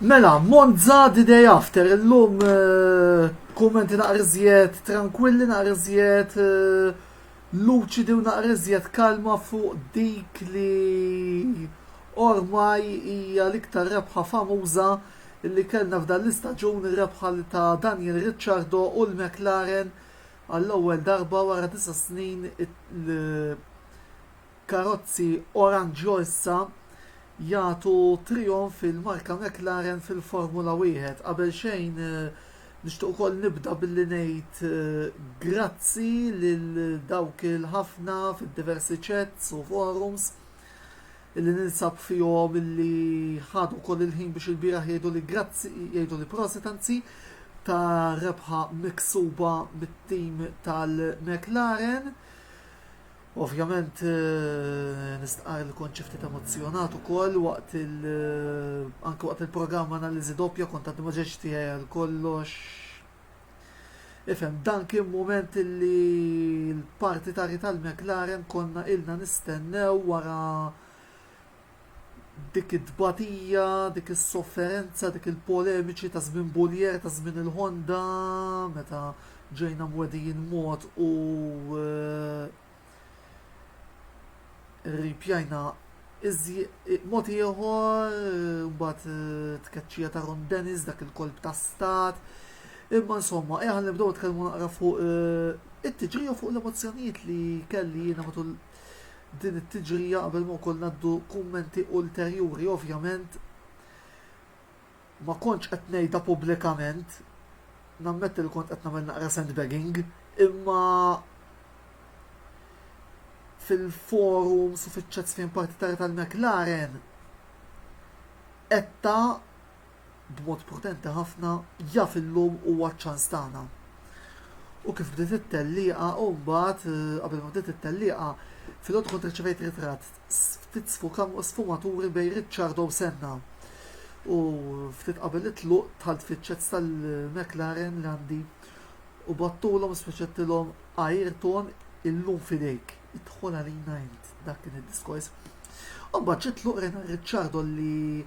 Mela, Monza the day after, illum eh, kummenti naqrizjet tranquilli, naqrizjet eh, luċidi u naqrizjet kalma fuq dik li ormaj hija l-iktar rebħa famuża li kellna f'dan l-istaġun ir-rebħa li ta' Daniel Ricciardo u l-McLaren għall-ewwel darba wara disa' snin il-karozzi oranġjo issa jagħtu trijonf il-marka McLaren fil-Formula Wieħed. Qabel xejn nixtieq ukoll nibda billi ngħid grazzi lil dawk il-ħafna fid-diversi chats u forums illi ninsab fihom illi ħadu wkoll il-ħin biex il-bieraħ jgħidu li grazzi jgħidu li prosit anzi ta' rebħa miksuba mit-tim tal-McLaren. Ovvjament nistqarr li kont xi ftit emozzjonat ukoll waqt il anke waqt il-programm analiżi doppja kont għad ma ġejtx tiegħi għal kollox. Ifhem, dan kien mument li l-partitari tal-McLaren konna ilna nistennew wara dik it-tbatija, dik is-sofferenza, dik il-polemiċi ta' żmien Buljer, ta' żmien il-Honda, meta ġejna mwedijin mod u eh, ripjajna mod ieħor, eh, mbagħad eh, tkeċċija ta' Ron Dennis dak il-kolb ta' stat. Imma insomma, eħan nibdew tkellmu naqra fuq it-tiġrija fuq l-emozzjonijiet li kelli jiena matul Din it-tiġrija qabel ma wkoll ngħaddu kummenti ulterjuri ovvjament ma kontx qed ngħidha pubblikament nammetti li kont qed nagħmel naqra sandbagging imma fil-forum sufiċċat fejn partitarja tal-McLaren etta b'mod potenti ħafna jaf illum huwa ċ-ċans tagħna. U kif bdiet it-tellieqa u mbagħad qabel ma bdiet it-tellieqa filgħodu kont irċevejt ritratt ftit sfumaturi bejn Ricciardo u Senna. U ftit qabel it-tluq tħalt fiċ-ċets tal-McLaren li għandi u battulhom speċettilhom Ayrton illum fidejk. Idħol għalina int dak kien id-diskors. U mbagħad ġiet tluq rena Ricciardo li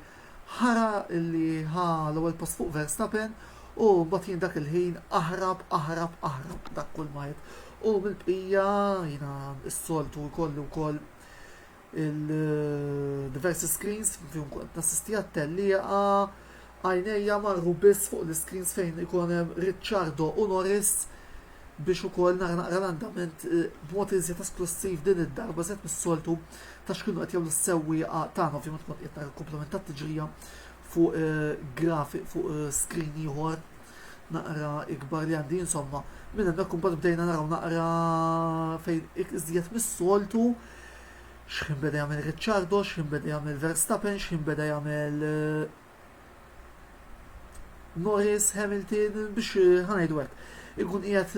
Ħara li ħa l-ewwel post fuq Verstappen u mbagħad jien dak il-ħin aħrab, aħrab, aħrab dak kull ma għedt. U mill-bqija jiena s-soltu jkolli wkoll il-diversi screens fihom kont nassisti għat-tellieqa għajnejja marru biss fuq l-screens fejn ikun hemm Ricciardo u Norris biex ukoll nara naqra l-andament b'mod iżjed esklussiv din id-darba iżjed mis-soltu ta' x'kienu qed jagħmlu s-sewwieqa tagħna. Ovvjament kont qed nara l-komplement tat-tiġrija fuq graf fuq screen ieħor naqra ikbar li għandi insomma. Minn hemmhekk imbagħad bdejna naraw naqra fejn iżjed mis-soltu x'ħin beda jagħmel Ricciardo, x'ħin beda jagħmel Verstappen, x'ħin beda jagħmel Norris Hamilton biex eh, ħanajdu hekk. Ikun qiegħed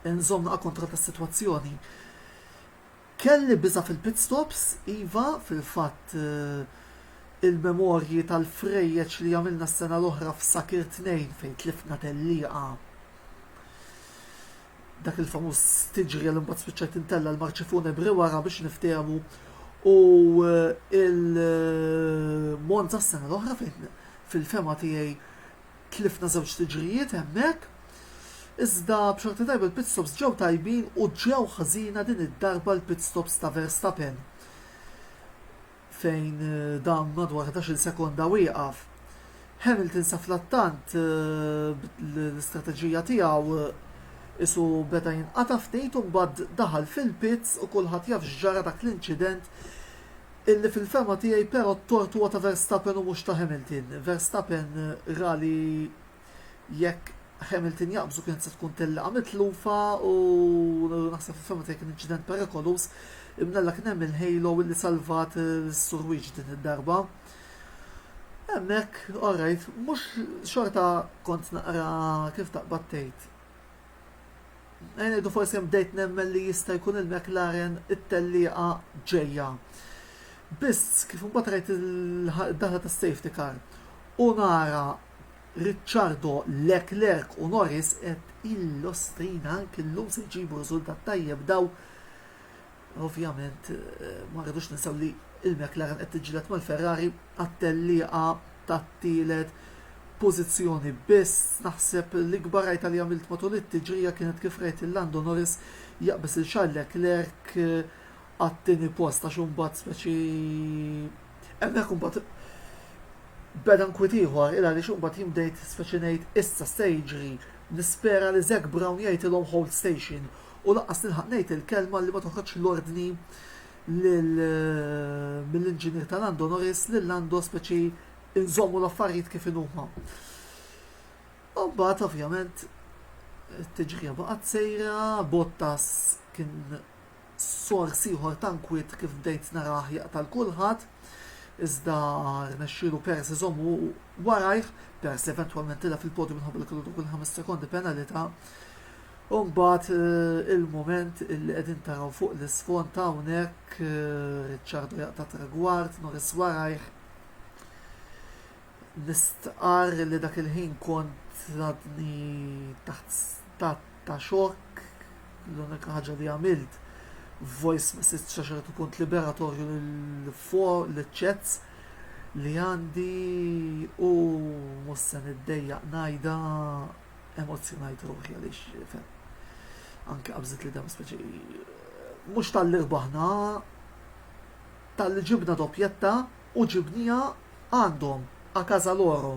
eh, nżomm naqa' kontra tas-sitwazzjoni. Kelli biża fil-pit stops, iva fil-fatt eh, il-memorji tal-frejjeċ li għamilna s-sena l-oħra f'Sakir 2 fejn tlifna tellieqa dak il-famuż stiġrija li mbagħad spiċċajt intella' l-marċi funebri wara biex niftehmu u eh, il-Monza s-sena l-oħra fejn fil-fema tiegħi tlifna żewġ tiġrijiet hemmhekk. Iżda b'xorta tajba l-pit stops ġew tajbin u ġew ħażina din id-darba l-pit stops ta' Verstappen. fejn dan madwar 13-il sekonda wieqaf. Hamilton safrattant l-istrateġija tiegħu isu beda jinqata' ftit u mbagħad daħal fil-pits u kulħadd jaf x'ġara dak l-inċident illi fil-fehma tiegħi però t-tort huwa ta' Verstappen u mhux ta' Hamilton. Verstappen ra li jekk Hamilton jaqbżu kienet se tkun tillaqa mitlufa u naħseb fil-fema tiegħi kien inċident perikoluż imnalla kien hemm il-halo li salvat is-surwiġ din id-darba. Hemmhekk, alright, mhux xorta kont naqra kif taqbad tgħid. Ngħidu forsi hemm bdejt nemmen li jista' jkun il-McLaren it-tellieqa ġejja. Biss kif imbagħad rajt il-daħla tas-safety car u nara Ricciardo, Leclerc u Norris qed il-Ostrina anki llum se jġibu riżultat tajjeb daw ovvjament ma rridux ninsew li il-McLaren qed tiġġieled mal-Ferrari għat-tellieqa tat-tielet pożizzjoni biss. Naħseb l-ikbar rajta li għamilt matul it-tiġrija kienet kif rajt il-Lando Norris jaqbeż il Charles Leclerc għat-tieni post għax imbagħad speċi hemmhekk imbagħad beda nkwiet ieħor il għaliex imbagħad jien bdejt speċi ngħid issa se jiġri nispera li Zac Brown jgħidilhom hold station u laqas nilħaq ngħid il-kelma li ma toħroġx l-ordni mill-inġinier ta' Lando Norris li Lando speċi inżommu l-affarijiet kif inhuma. U mbagħad ovvjament it-tiġrija baqgħet sejra, Bottas kien sors ieħor ta' nkwiet kif bdejt narah jaqta' 'l kulħadd, iżda rnexxielu Peres iżommu warajh, Peres li eventwalment tilgħab fil-podju minħabba li kellu dawk il-ħames sekondi penalità. U mbagħad il-mument illi qegħdin taraw fuq l-isfond hawnhekk Ricciardo jaqta' tragward, Norris warajh. Nistqar li dak il-ħin kont għadni taħt ta' xokk, l-unika ħaġa li għamilt voice message għax qed ikun liberatorju l-ċets li għandi u mhux se niddejjaq ngħidha emozzjonajt ruħi għaliex fem. Anke qabżit li dam speċi mhux tal-li rbaħna tal-li ġibna doppjetta u ġibniha għandhom, a casa loro,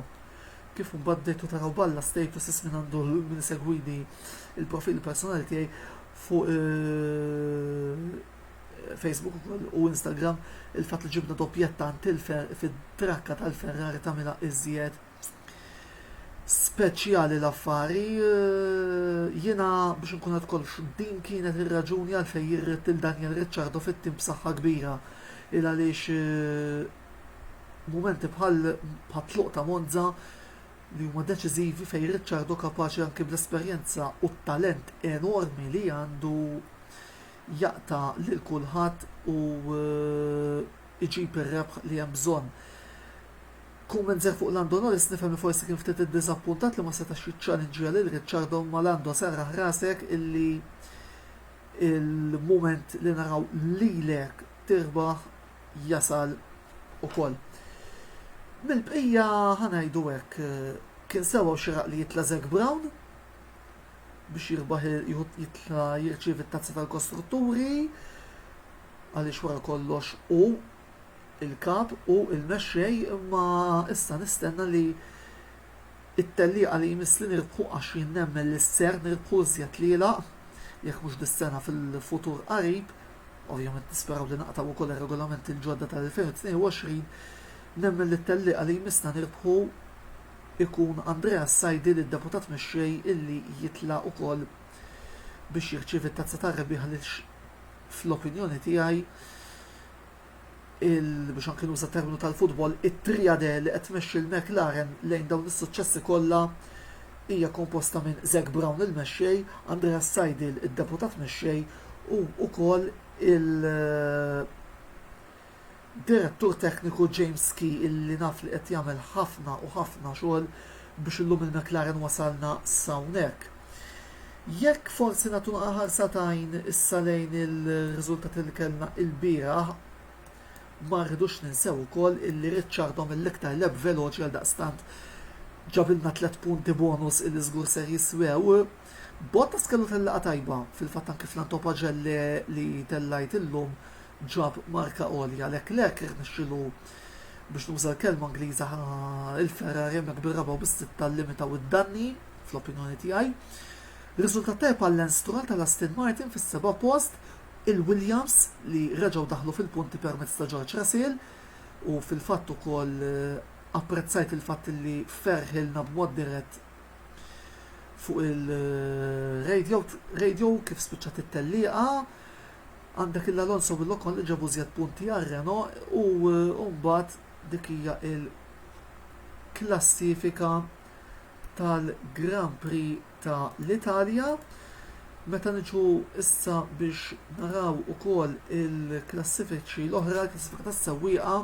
kif mbagħad bdejtu taraw b'alla statuses min għandu min isegwini il-profili personali tiegħi fuq Facebook ukoll u Instagram il-fatt li ġibna doppjetta għand fid-trakka tal-Ferrari tagħmilha iżjed speċjali l-affari, jiena biex nkun qed kollox din kienet ir-raġuni għalfejn jirrid lil Daniel Ricciardo fit-tim b'saħħa kbira il għaliex mumenti bħal tluq ta' Monza li huma deċiżivi fejn Ricciardo kapaċi anki bl-esperjenza u t-talent enormi li għandu jaqta' lil kulħadd u jġib ir-rebħ li hemm bżonn. Kumment żgħir fuq Lando Norris nifhem li forsi kien ftit iddiżappuntat li ma setax jiċċalinġja lil Ricciardo ma Lando serraħ rasek illi il-mument li naraw lilek tirbaħ jasal ukoll. Mill-bqija ħa ngħidu hekk kien sewwa u xieraq li jitla' Zac Brown biex jirbaħ jitla' jirċievi t-tazza tal-kostrutturi għaliex wara kollox u il-Kap u l-Mexxej imma issa nistenna li t-tellieqa li jmiss li nirkħu għax jien nemmen li ser nirkħu iżjed tlielaq jekk mhux dis-sena fil-futur qarib, ovvjament nisperaw li naqtgħu wkoll ir-regolamenti l-ġodda tal-2022, nemmen li t-tellieqa li jmiss na nirbħu jkun Andrea s-Sajdi li d-Deputat Mexxej illi jitla' wkoll biex jirċievi t-Tazza tar-Rebbieħa lil fl-opinjoni tiegħi, biex anki nuża terminu tal-futbol, it-triade li qed tmexxi l-McLaren lejn dawn is-suċċessi kollha hija komposta minn Zac Brown il-mexxej, Andreas Seidl id-deputat mexxej u wkoll il- Direttur Tekniku James Key illi naf li qed jagħmel ħafna u ħafna xogħol biex illum il-McLaren wasalna s'hawnhekk. Jekk forsi nagħtu ħarsa t'għajn issa lejn ir-riżultati li kellna ilbieraħ, ma rridux ninsew ukoll illi Ricciardo mill-iktar leb veloċi għaldaqstant ġabilna tliet punti bonus illi żgur ser jiswew. Bottas kellu tellieqa tajba, fil-fatt anke fl-antopagelle li tellajt illum ġab marka għolja Leclerc irnexxielu biex nuża l-kelma Ingliża il-Ferrari hemmhekk bir-raba' u bis-sitta llimitaw id-danni fl-opinjoni tiegħi. Riżultat tajjeb għal Lance Stroll tal-Aston Martin fis-seba' post, il-Williams li reġgħu daħlu fil-punti permezz ta' George Russell u fil-fatt ukoll eh, apprezzajt il-fatt li ferħilna b'mod dirett fuq il-radio eh, kif spiċċat it-tellieqa Għandek il Alonso u l-Ocon li ġabu żjed punti għal Renault u mbagħad dik hija l-klassifika tal-Grand Prix ta' l-Italja. Meta niġu issa biex naraw ukoll il-klassifiċi l-oħra, il-klassifika tas-sewwieqa,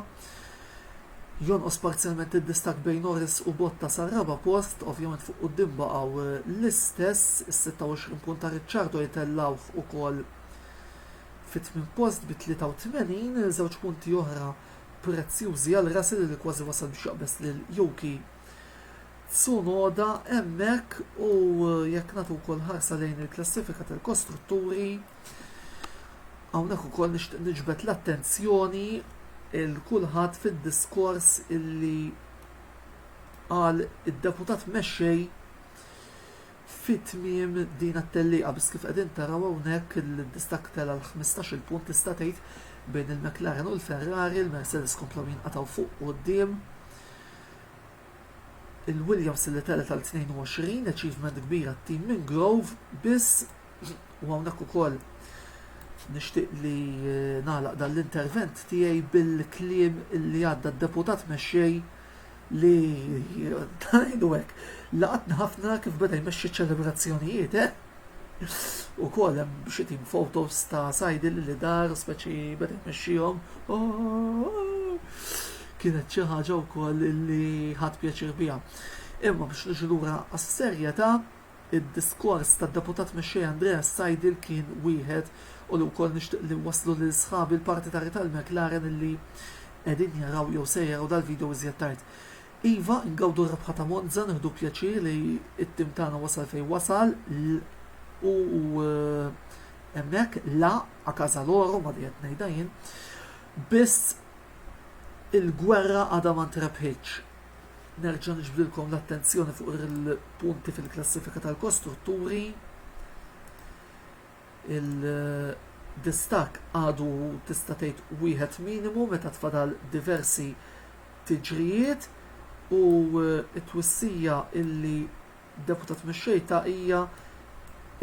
Jonqos parzjalment id-distakk bejn Norris u Bottas għar-raba' post, ovvjament fuq quddiem baqgħu l-istess, is-26 punt ta' Ricciardo jtellgħuh ukoll fit-tmien post bi 83, żewġ punti oħra prezzjużi għal Russell li kważi wasal biex jaqbeż lil Yuki Tsunoda hemmhekk u jekk nagħtu wkoll ħarsa lejn il-klassifika tal-kostrutturi, Hawnhekk ukoll nixtieq niġbed l-attenzjoni il kulħadd fid-diskors illi qal id-deputat mexxej fit-tmiem din it-tellieqa biss kif qegħdin taraw hawnhekk il-distak tela l-15 il-punt tista' tgħid bejn il-McLaren u l-Ferrari, il-Mercedes komplew jinqatgħu fuq quddiem il-Williams li telet għal 22 achievement kbira t-tim minn Grove biss U hawnhekk ukoll nixtieq li eh, nagħlaq dan l-intervent tiegħi bil-kliem li għadda d-deputat mexxej li tajdu hekk laqatna ħafna kif beda jmexxi ċelebrazzjonijiet, eh? U koll hemm xi tim fotos ta' sajdi li dar speċi beda jmexxihom. Kienet xi ħaġa wkoll li ħadd pjaċir biha. Imma biex niġu lura għas-serjetà Id-diskors tad-Deputat Mexxej Andrea Seidel kien wieħed u li wkoll nixtieq li nwasslu lil sħabi l-partitari tal-McLaren illi qegħdin jaraw jew se jaraw dal-video iżjed tard. Iva, ingawdu r-rebħa ta' Monza, nieħdu pjaċir li t-tim tagħna wasal fejn wasal l u hemmhekk la a casa loro, ma dejjem ngħidha jien, biss il-gwerra għadha ma ntrebħitx. Nerġa' niġbdilkom l-attenzjoni fuq il-punti fil-klassifika tal-kostrutturi. Il-distak għadu tista' tgħid wieħed minimu meta tfadal diversi tiġrijiet u t-twissija illi deputat mixxejta hija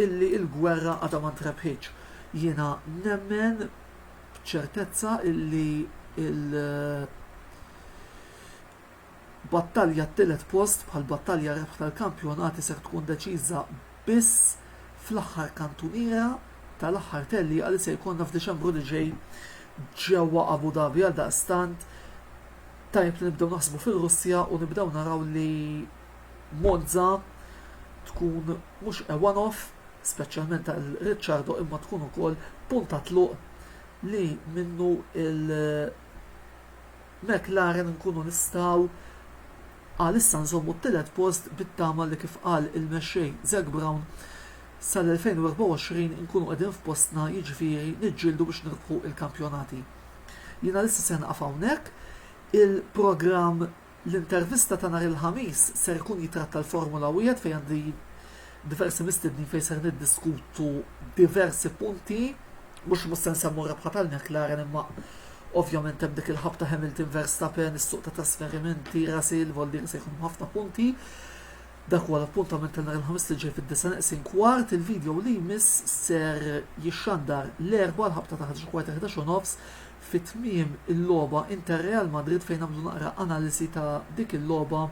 illi l-gwerra għadha ma ntrebħitx. Jiena nemmen b'ċertezza illi il- Battalja t-tielet post bħal battalja rebħna l-kampjonati ser tkun deċiża biss fl-aħħar kantuniera tal-aħħar tellieqa li se jkollna f'Diċembru li ġej ġewwa Abu Dhabi għaldaqstant tajjeb li nibdew naħsbu fir-Russja u nibdew naraw li Monza tkun mhux a one off speċjalment għal Ricciardo imma tkun ukoll punt ta' tluq li minnu il- McLaren nkunu nistgħu għalissa nżommu t-tielet post bit-tama li kif qal il-mexxej Zac Brown sal-2024 nkunu qegħdin f'postna jiġifieri niġġieldu biex nirbħu l-kampjonati. Jien għalissa ser nieqaf hawnhekk. Il-programm L-intervista ta' nhar il-Ħamis ser ikun jitratta l-Formula Wieħed fejn għandi diversi mistednin fejn ser niddiskutu diversi punti, mhux mhux se nsemmu r-rebħa tal-McLaren imma ovvjament hemm dik il-ħabta Hamilton Verstappen, is-suq ta' trasferimenti, Russell, Voldir se jkun ħafna punti. Dak huwa l-appuntament tal nhar il-ħamis li ġej fid-disa neqsin kwart, il-video li jmiss ser jixxandar l-erba l-ħabta ta' ħaġa kwart 11 nofs Fi tmiem il-logħba Inter Real Madrid fejn nagħmlu naqra analisi ta' dik il-logħba,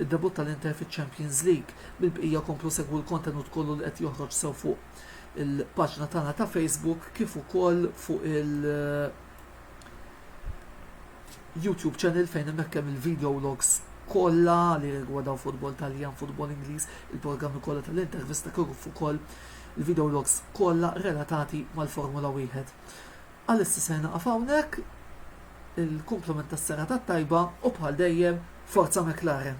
id-debutt tal-Inter fiċ-Champions League. Bil-bqija komplu segwu l-kontenut kollu li qed joħroġ sew fuq il-paġna tagħna ta' Facebook kif ukoll fuq il YouTube channel fejn hemmhekk hemm il-video logs kollha li rigwardaw futbol Taljan, futbol Ingliż, il-programmi kollha tal-intervista kif ukoll il-video logs kollha relatati mal-Formula 1. Għalissa ser nieqaf hawnhekk, il-kumplament tas-serata t-tajba u bħal dejjem Forza McLaren!